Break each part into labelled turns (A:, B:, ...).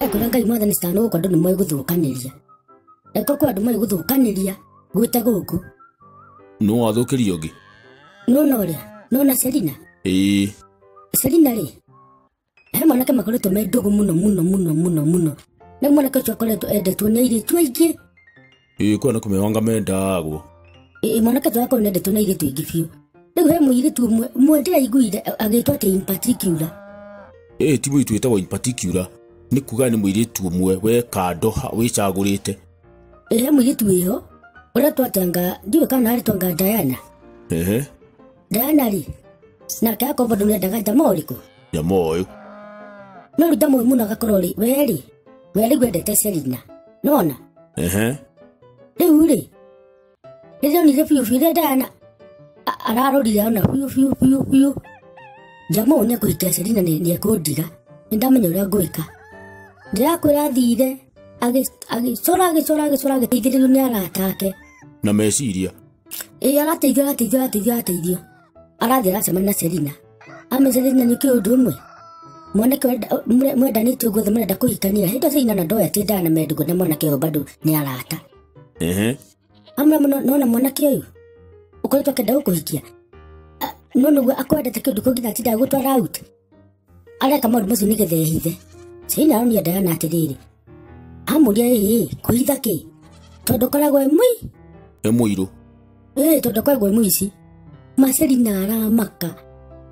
A: ekora ngai mwathani citano gũkũ andũ nĩ moĩ gũthũkanĩria eko kwa andũ moĩ gũthũkanĩria gwĩte gũkũ nũ
B: wathũkĩria ũngĩ nona ũrĩa
A: nona selina ĩĩ selina rĩ he mwanake makoretwo me ndũgũ mũno mũno mũno mũno mũno na mwanake ũcio akoretwo endetwo nĩ airĩtu aingĩ ĩĩ kwä nä kå mä wanga
B: mendagwo Ĩ, mwanake ũcio
A: wakorwo nendetwo na airĩtu aingĩ biũ rĩu he mũirĩtu ũmwe ũmwe ndĩraiguire agĩtwo atĩ in particular ĩĩ ti
B: må itå ä tagwo in particular nä kuga nä må irä tu å mwe we kando wä cagå rä te Ĩ, he
A: mũirĩtu wĩho ũretwo atanga ndiũĩ kana arĩtwanga Diana ehe Ndanari. Nake akobo ndumire ndaga jama ũrĩkũ. Jama ũyũ.
B: No
A: rita mũĩ mũno agakorwo rĩ werĩ. Werĩ gwendete Selina. Nona? Ehe. Rĩu rĩ. Rĩrĩa onire biũ biũ rĩrĩa Diana ararorire ona biũ biũ biũ biũ. Jama ũyũ nĩekũhikia Selina nĩekũndiga. Nĩndamenya ũrĩa ngwĩka. Ndĩrakwĩra thire agĩcora agĩcora agĩcora agĩteithĩrĩrio nĩ arata ake. Na meciria.
B: ĩĩ arateithio arateithio arateithio
A: arateithio arathiĩ aracemania na selina amecania na nĩkĩ ũndũ ũmwe mwanake wenda- mwe- mwendanĩtio guothe mũrenda kũhikania hĩndĩ selina na ndoya atĩ ndana mendigo na mwanake ũyũ bado nĩ arata Ehe. amra mũno nona mwanake ũyũ ũkoretwo akenda gũkũhikia Ah, no nĩguo akwendete kĩndũ kũngĩ na atindaga gũtwara out areka maũndũ macio nĩgetha ehithe caina aronia ndayana atĩrĩrĩ amũria ĩĩ kũhitha kĩ tondũ koragwo e mũi e mũirũ
B: ĩĩ
A: tondũ koragwo e mũici maceri na aramaka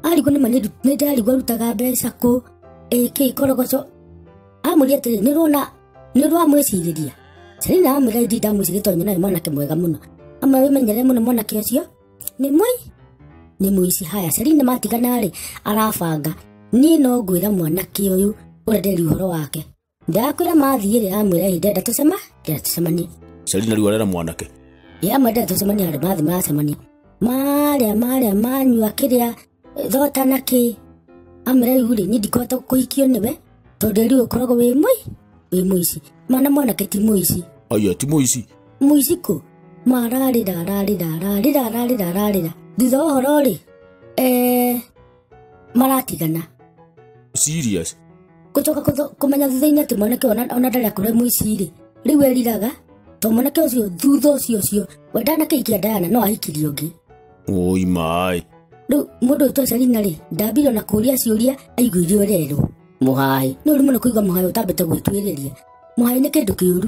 A: arigwo nĩma nĩ- nĩ ndarigwo arutaga mbeca kũ ĩkĩ korogoco amũria atĩrĩ nĩ ũrona nĩ ũrwa mwĩcirĩria caina amwĩra indi ndamwĩcirĩria tondũ nyonaga nĩ mwanake mwega mũno amwe wĩmenyere mũno mwanake ũcio nĩ mũi nĩ mũici haya Selina matigana rĩ arabanga niĩ no ngwĩra mwanake ũyũ ũrĩa nderi ũhoro wake ndakwĩra mathiĩ rĩ amwĩra hĩndĩ enda tũcema enda tũcemanie Selina rĩu arera
B: mwanake ya mwendera tũcemania
A: andũ mathiĩ maracemania marĩa marĩa manyua kĩrĩa thogota na kĩ amera rĩu rĩ niĩ ndikũhota kũhikio nĩwe tondũ rĩu ũkoragwo wĩ mũi wĩ mũici mwana mwanake ti mũici aya ti mũici
B: mũici kũ
A: mararĩra ararĩra ararĩra ararĩra ararĩra thutha wa ũhoro rĩ eh, maratigana
B: serious gũcoka
A: kũtho- kũmenya thutha-inĩ atĩ mwanake ona ona ndarĩ akorwo e mũici rĩ rĩu eriraga to mwanake ũcio thutha ũcio ũcio we ndanakĩhikia ndayana no ahikirie ũngĩ Oi
B: mai. Rĩu mũndũ
A: ũyũ twacari na rĩ, ndambire ona kũũria ciũria aiguire ũrerwo. Mũhai. Nĩ ũru mũno kũigua mũhai ũtambĩte gwĩtuĩrĩria. Mũhai nĩ kĩndũ kĩũru.